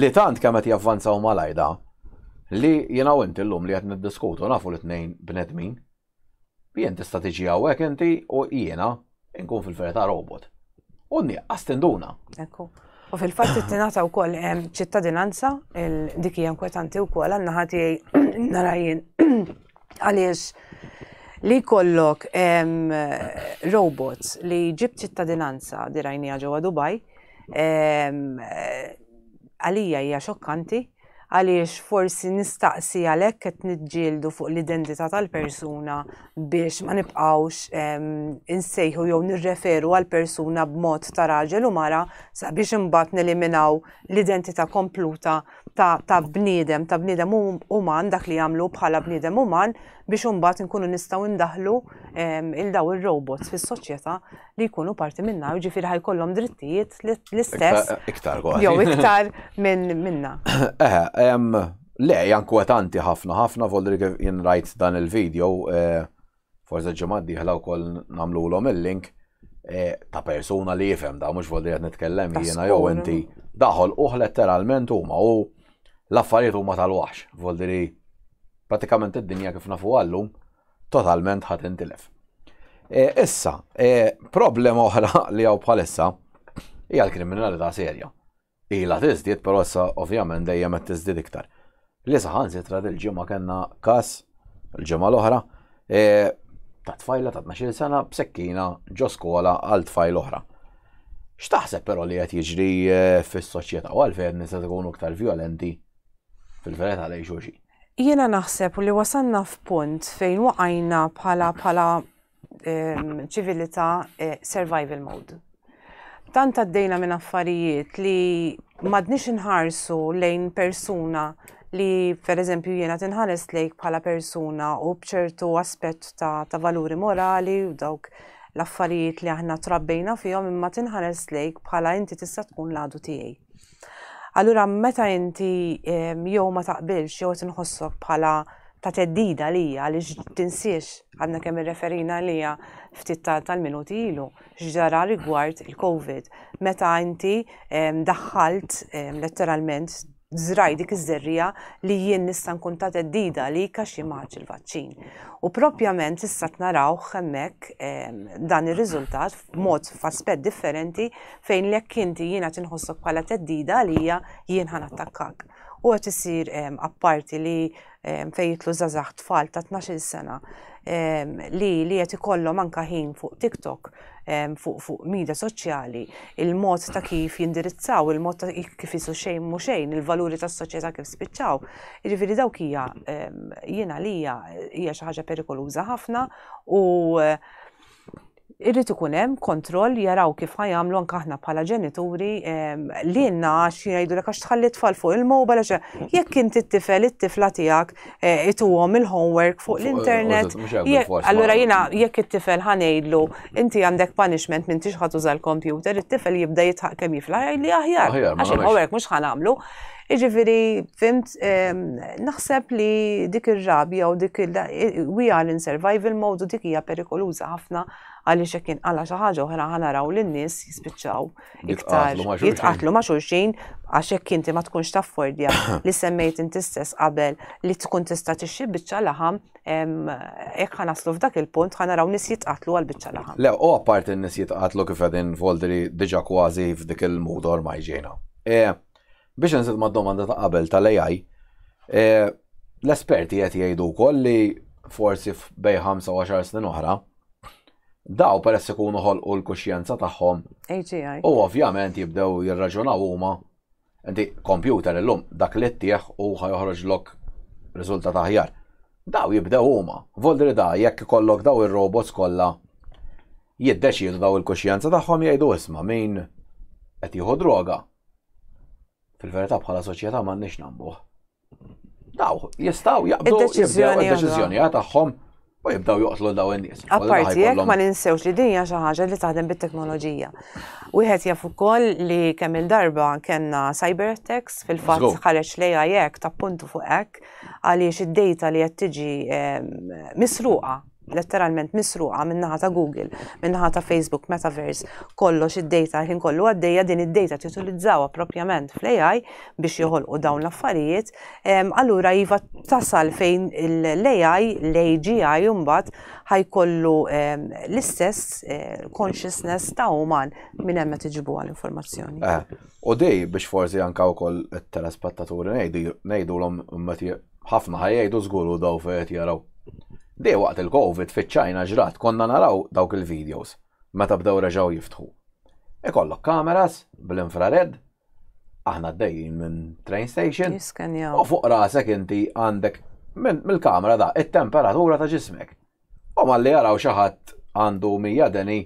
li tant kemm qed javvanzaw malajda li jiena u inti llum li qed niddiskutu nafu l-tnejn bnedmin Jien tista' tiġi hawnhekk inti u jiena nkun fil-verità robot. U nieqqas tinduna. Ekku. U fil-fatt it-tinata wkoll hemm ċittadinanza, dik hija inkwetanti wkoll għandna ħati nara jien għaliex li kollok robots li ġib ċittadinanza dirajnija ġewwa Dubai għalija hija xokkanti Għaliex forsi nistaqsi għalhekk qed niġġieldu fuq l-identità tal-persuna biex ma nibqgħux insejħu jew nirreferu għal persuna b'mod ta' raġel u mara sabiex imbagħad neliminaw l-identità kompluta ta', ta bniedem, ta' bniedem uman dak li jagħmlu bħala bniedem uman biex imbagħad inkunu nistgħu ndaħlu il daw ir-robots fis-soċjetà li jkunu parti minna, ġifiri ħajkollhom drittijiet l-istess. Iktar għal. Jew iktar minn minna. Eh, le, jankwetanti ħafna, ħafna volri kif jien rajt dan il-video, eh, forse ġemad diħla u koll namlu l-om il-link eh, ta' persuna li jifem da' mux volri għed nitkellem jiena jew inti daħol uħ letteralment huma u l-affarijiet huma tal-waħx, volri pratikament id-dinja kif nafu għallum totalment ħa tintilef. E, issa, e, problema oħra li għaw bħalissa hija l-kriminalità serja. Ila tiżdied, però issa ovvjament dejjem qed tiżdied iktar. Li saħan sitra dil-ġimgħa kellna kas l-ġimgħa l-oħra e, ta' tfajla ta' 12 sena b'sekkina ġo skola għal tfajl oħra. X'taħseb però li qed jiġri fis-soċjetà u għalfejn nisa tkunu iktar vjolenti fil-verità lejn xulxin. Jiena naħseb li wasanna f'punt fejn waqajna bħala bħala ehm, ċivilità eh, survival mode. Tant għaddejna minn affarijiet li madnix inħarsu lejn persuna li per eżempju jiena tinħares lejk bħala persuna u bċertu aspett ta', ta valuri morali u dawk l-affarijiet li aħna trabbejna fihom imma tinħares lejk bħala inti tista' tkun l-għadu tiegħi. Allura meta inti jew ma taqbilx jew qed inħossok bħala ta' teddida lija li tinsiex għadna kemm irreferina lija ftit tal-minuti ilu x'ġara rigward il-COVID meta inti daħħalt letteralment zraj dik iż-żerrija li jien nista' nkun ta' teddida li kax jimaċ il-vaċċin. U propjament issa tnarawh hemmhekk dan ir-riżultat mod f'aspett differenti fejn jekk inti jiena tinħossok bħala teddida għalija jien ħan attakkak. U qed isir apparti li fejn jitlu żazax tfal ta' 12 sena li li qed ikollhom anka ħin fuq TikTok fuq fuq media soċjali, il-mod ta' kif jindirizzaw, il-mod ta' kif isu xejn mhu xejn, il-valuri tas-soċjetà kif spiċċaw. Jiġifieri dawk hija jiena li hija xi ħaġa perikoluża ħafna u Irrid ikun hemm kontroll jaraw kif ħa jagħmlu anke aħna bħala ġenituri lilna għax jgħidulek għax tħalli tfal fuq il-mobile għax mm. jekk inti t-tifel it-tifla tiegħek eh, ituhom il-homework fuq l-internet. Allura jiena jekk it-tifel ħanejdlu inti għandek punishment minn tixħat uża l-kompjuter, it-tifel jibda jitħaq kemm jifla jgħidli aħjar għax il-homework mhux ħanamlu. Iġifiri, fimt, naħseb li dik ir-rabja u dik il we are in survival mode u dik hija perikoluża ħafna għaliex hekk inqala xi ħaġa oħra ħanaraw li n-nies jispiċċaw iktar jitqatlu ma' xulxin għax hekk inti ma tkunx taffordja li semmejt inti stess qabel li tkun tista' tixxi biċċa laħam hekk ħanaslu f'dak il-punt ħanaraw nies jitqatlu għal biċċa laħam. Le, u apparti n-nies jitqatlu kif qegħdin Voldri diġà kważi f'dik il-mood ormaj ġejna. E, Biex inżid mad-domanda ta' qabel tal-AI, eh, l-esperti qed jgħidu wkoll li forsi f'bej 25 snin oħra, daw peress ikunu ħolqu l-kuxjenza tagħhom. AGI. U ovvjament jibdew jirraġunaw huma. Inti kompjuter illum dak li ttieħ u ħajoħroġ lok riżultat aħjar. Daw jibdew huma. Voldri da jekk ikollok daw ir-robots kollha jiddeċiedu daw il-kuxjenza tagħhom jgħidu isma' min qed jieħu droga Fil-verità bħala soċjetà m'għandniex nagħmbuh. Daw jistgħu jaqbdu id-deċiżjoni tagħhom u jibdaw joqtlu daw in-nies. Apparti jekk ma ninsewx li dinja xi ħaġa li taħdem bit-teknoloġija. Wieħed jaf ukoll li kemm il-darba kellna cyber attacks fil-fatt ħareġ lejha jekk tappuntu fuq hekk għaliex id-data li qed tiġi ehm, misruqa letteralment misruqa min-naħa ta' Google, min-naħa ta' Facebook, Metaverse, kollox id-data ħin kollu għaddejja din id-data titulizzawa propjament fl-AI biex joħolqu dawn l-affarijiet, allura iva tasal fejn l-AI, l-AGI mbagħad ħajkollu l-istess eh, consciousness ta' uman minn hemm qed iġibu għall-informazzjoni. Eh, u dej biex forsi anka wkoll it-telespettaturi ngħidu ngħidulhom meta Ħafna ħa jgħidu żgur hu daw fejn qed jaraw. Dejjem waqt il-Covid fiċ-Ċina ġrat konna naraw dawk il-videos meta bdew reġgħu jiftħu. Ikollok kameras bl-infrared, aħna għaddejjin minn train station, u fuq rasek inti għandek mill-kamera da it-temperatura ta' ġismek. U malli jaraw xi ħadd għandu mija deni,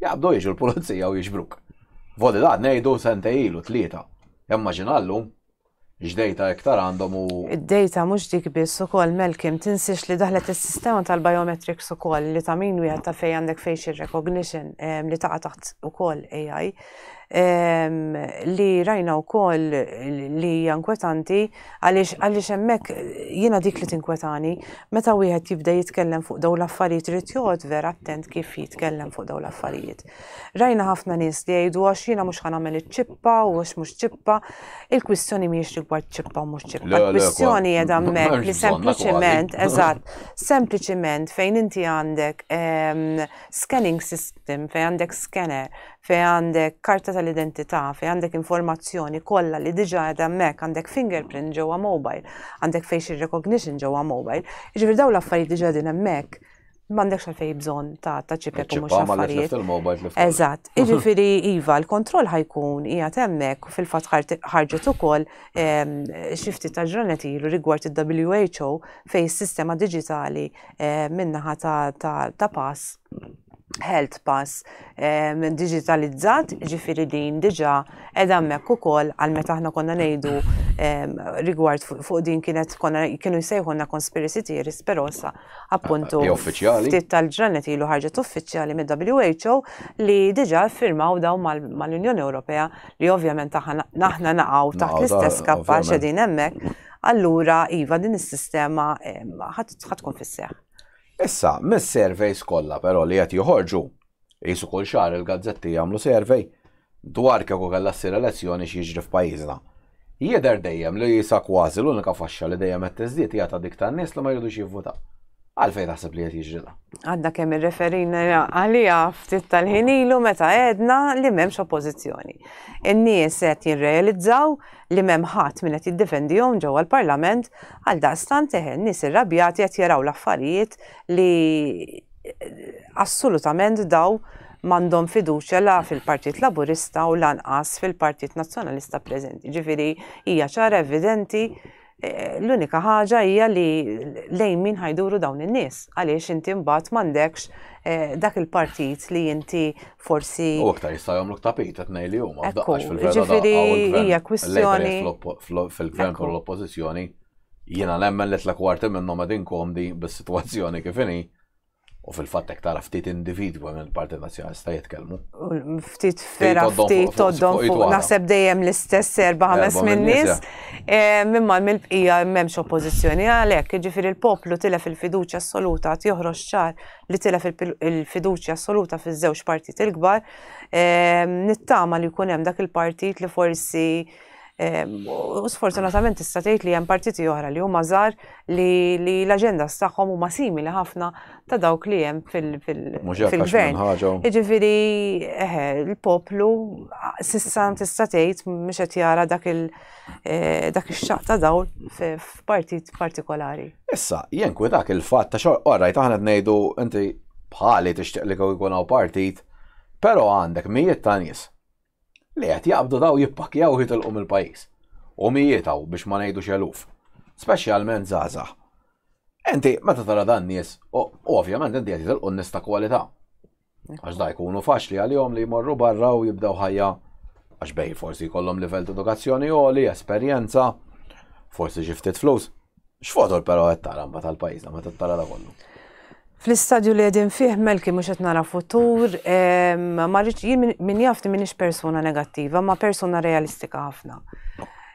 jaqbdu jiġu l-pulizija u jiġbruk. Vodi da ngħidu sentej ilu tlieta. Immaġinallu, X'dejta iktar għandhom u. Id-dejta mhux dik biss ukoll Malcolm tinsiex li daħlet is-sistema tal-biometrics ukoll li ta' min wieħed taf fejn għandek facial recognition li taqa' taħt ukoll AI li rajna wkoll li hija inkwetanti għaliex għaliex hemmhekk jiena dik li tinkwetani meta wieħed jibda jitkellem fuq dawn l-affarijiet irid joqgħod vera attent kif jitkellem fuq dawn l-affarijiet. Rajna ħafna nies li jgħidu għax jiena mhux ħan nagħmel iċ-ċippa u għax mhux ċippa. Il-kwistjoni mhijiex rigward ċippa u mhux ċippa. Il-kwistjoni qiegħda hemmhekk li sempliċement, eżatt, sempliċement fejn inti għandek ehm, scanning system, fejn għandek scanner, fejn għandek karta tal-identità, fejn għandek informazzjoni kollha li diġà qiegħda hemmhekk, għandek fingerprint ġewwa mobile, għandek facial recognition ġewwa mobile. Jiġifieri dawn l-affarijiet diġà din hemmhekk M'għandekx għalfej bżonn ta' ta' ċipek u mhux affarijiet. Eżatt. Jiġifieri iva, l-kontroll ħajkun hija temmek u fil-fatt ħarġet ukoll ehm, xi ftit ta' ġranet ilu rigward il-WHO fejn is-sistema diġitali ehm, minnaħa ta' pass health pass eh, minn digitalizzat, ġifiri din diġa edha mekk ukoll għal meta aħna konna ngħidu eh, rigward fuq din kienet konna kienu jsejħuna conspiracy theories, però sa appuntu ftit tal-ġranet ilu ħarġet uffiċjali mid-WHO li diġa firmaw daw mal-Unjoni Ewropea li ovvjament aħna naqgħu taħt l-istess kappa xedin hemmhekk, allura iva din is-sistema ħadd tkun fis-seħħ. Issa, mis-surveys kollha però li qed joħorġu, Qisu kull xahar il-gazzetti jagħmlu survey dwar kieku kellha ssir elezzjoni x'jiġri f'pajjiżna. Jidher dejjem li sa kważi l-unika faxxa li dejjem qed tiżdied hija ta' dik tan-nies li ma jridux jivvutaw. Għalfejn taħseb li qed jiġri dan? Għadna kemm irreferina għaliha ftit tal-ħin ilu meta għedna li m'hemmx oppożizzjoni. In-nies qed jirrealizzaw li m'hemm ħadd min qed jiddefendihom ġewwa l-Parlament għal daqstant eħe, nies irrabjati qed jaraw l-affarijiet li assolutament daw m'għandhom fiduċja la fil-Partit Laburista u lanqas fil-Partit Nazzjonalista preżenti. Ġifieri hija ċara evidenti eh, l-unika ħaġa hija li lejn min ħajduru dawn in-nies għaliex inti mbagħad m'għandekx eh, dak il-partit li inti forsi U aktar jista' jagħmlu tapit qed ngħid li huma Ekku, f'daqqax fil-vera ġifieri daqqa u l-gvern- hija kwistjoni- l-Labour fl- fil-gvern Ekku. u l-oppożizzjoni Jiena nemmen li tla kwarti minnhom qegħdin komdi bis-sitwazzjoni kif inhi u fil-fatt hekk tara ftit individwi minn il-Partit Nazzjonalista jitkellmu. Ftit fera ftit toddhom fuq naħseb dejjem l-istess erba' ħames minn nies. Eh, minn mal mill-bqija m'hemmx oppożizzjoni għalhekk, jiġifieri l-poplu tilef il-fiduċja assoluta qed joħroġ ċar li tilef il-fiduċja assoluta fiż-żewġ partit il-kbar. Eh, nittama li jkun hemm dak il-partit li forsi U sfortunatament tista' tgħid li hemm partiti oħra li huma żgħar li l-aġenda tagħhom huma simili ħafna ta' dawk li hemm fil-gvern. Jiġifieri il-poplu sissa tista' tgħid mhux qed jara dak ix-xaq ta' dawl f'partit partikolari. Issa, jien kwi dak il-fatt ta' xogħol qorrajt aħna ngħidu inti bħali tixtieq li jkun hawn partit, però għandek mijiet ta' nies li qed jaqbdu daw jippakkjaw jitilqu mill-pajjiż. U mijiet hawn biex ma ngħidux eluf. Speċjalment żgħażagħ. Inti meta tara dan nies, u ovvjament inti qed jitilqu n-nies ta' kwalità. Għax da jkunu faċli għalihom li jmorru barra u jibdew ħajja għax bej forsi jkollhom livell ta' edukazzjoni għoli, esperjenza, forsi xi ftit flus. X'fotor però qed tara mbagħad tal-pajjiżna meta tara da kollu? Fl-istadju li għedin fih melki mux qed nara futur, marriċ jien min jafni minix persuna negattiva, ma persuna realistika ħafna.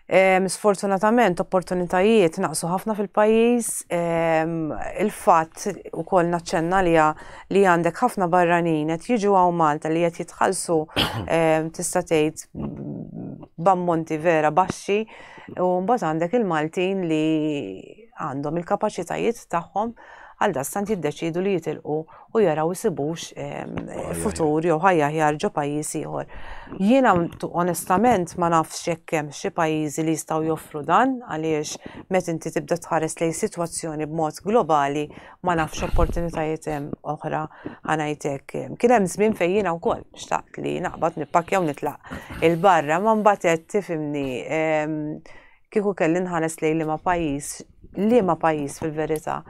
Sfortunatament, opportunitajiet naqsu ħafna fil-pajis, il-fat u kol naċċenna li li għandek ħafna barranin qed jiġu għaw Malta li qed jitħallsu tista' tgħid b'ammonti vera baxxi U mbagħad għandek il-Maltin li għandhom il-kapaċitajiet tagħhom għal dastant jiddeċidu li jitilqu u jaraw isibux futur jew ħajja ħjar ġo pajjiż ieħor. Jiena onestament ma nafx jekk hemm xi pajjiżi li jistgħu joffru dan għaliex meta inti tibda tħares lejn sitwazzjoni b'mod globali ma nafx opportunitajiet oħra ħanajtek. Kien hemm żmien fejn jiena wkoll xtaqt li naqbad nippakkja u nitlaq il-barra ma mbagħad tifimni kieku kelli nħares lejn liema pajjiż, liema pajjiż fil-verità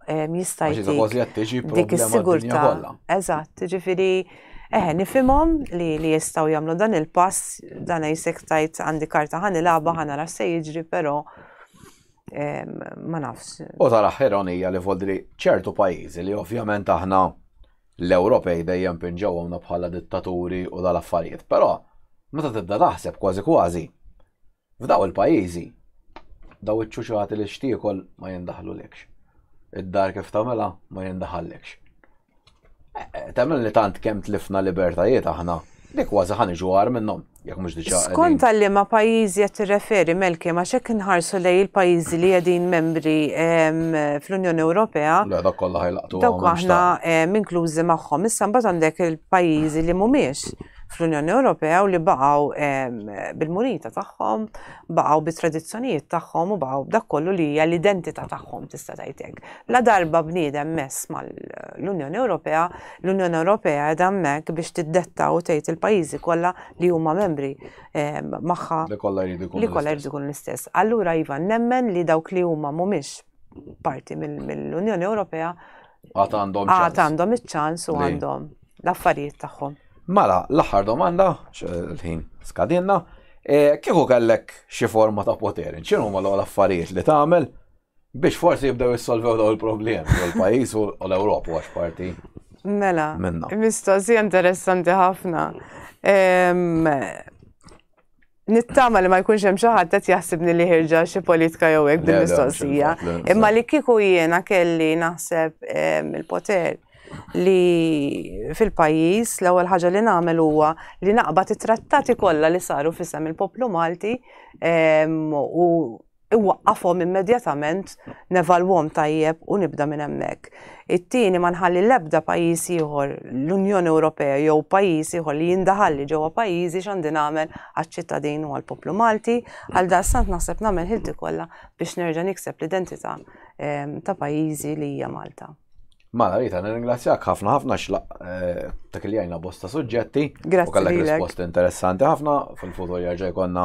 jista' jtik dik is-sigurtà. Eżatt, ġifieri eħe nifhimhom li li jistgħu jagħmlu dan il-pass dan jsektajt għandi karta ħanilaba ħanara se jiġri però ma nafx. U tal-aħħar onija li voldi li ċertu pajjiżi li ovvjament aħna l-Ewropej dejjem pinġewhomna bħala dittaturi u dal-affarijiet, però meta tibda taħseb kważi kważi f'daw il-pajjiżi daw iċ-ċuċati li xtiekol ma jindaħlulekx. Id-dar kif tagħmilha ma jindaħallekx. Temmen li tant kemm tlifna libertajiet aħna, li kważi ħa niġu għar minnhom, jekk mhux diġà. Skont għal liema pajjiżi qed tirreferi, Melki, għax jekk inħarsu lejn il-pajjiżi li qegħdin membri fl-Unjoni Ewropea. Le, dak kollha ħajlaqtu. Dawk aħna inklużi magħhom. Issa mbagħad għandek il-pajjiżi li mhumiex fl-Unjoni Ewropea u li baqgħu bil-munita tagħhom, baqgħu bit-tradizzjonijiet tagħhom u baqgħu b'dak kollu li hija l-identità tagħhom tista' tgħidlek. Ladarba bniedem mess mal-Unjoni Ewropea, l-Unjoni Ewropea qiegħda hemmhekk biex tiddetta u tgħid il-pajjiżi kollha li huma membri magħha Li kollha jridu jkunu. li kollha jridu jkunu l-istess. Allura iva, nemmen li dawk li huma mhumiex parti mill-Unjoni Ewropea Għad għandhom għad ċans. għandhom iċ-ċans u Li. għandhom l-affarijiet tagħhom. Mela, l-aħħar domanda, x- l-ħin skadinna, eh, kieku kellek xi forma ta' poter, x'inhuma l-ogħla affarijiet li tagħmel Biex forsi jibdew jissolvew daw il-problemi, u l-pajis u l-Europa għax parti. Mela, mistoqsi interessanti ħafna. Nittama li ma jkunx hemm xi ħadd qed jaħsibni li ħirġa xi politika jew hekk din mistoqsija. Imma li kieku jiena kelli naħseb il-poter li fil-pajis l-ewwel ħaġa li nagħmel huwa li naqbad it-trattati kollha li saru fisem il-poplu Malti u iwaqqafhom immedjatament, nevalwhom tajjeb u nibda minn hemmhekk. It-tieni, ma nħalli l-ebda pajjiż ieħor, l-Unjoni Ewropea jew pajjiż ieħor li jindaħalli ġewwa pajjiżi x'għandi nagħmel għaċ-ċittadin u għall-poplu Malti. Għaldaqstant naħseb nagħmel ħilti kollha biex nerġa' nikseb l-identità ta' pajjiżi li hija Malta. Mala Rita, nirringrazzjak ħafna ħafna xlaq eh, ta' kiljajna bosta suġġetti. Grazzi. U kellek risposti interessanti ħafna fil-futur jarġa' jkollna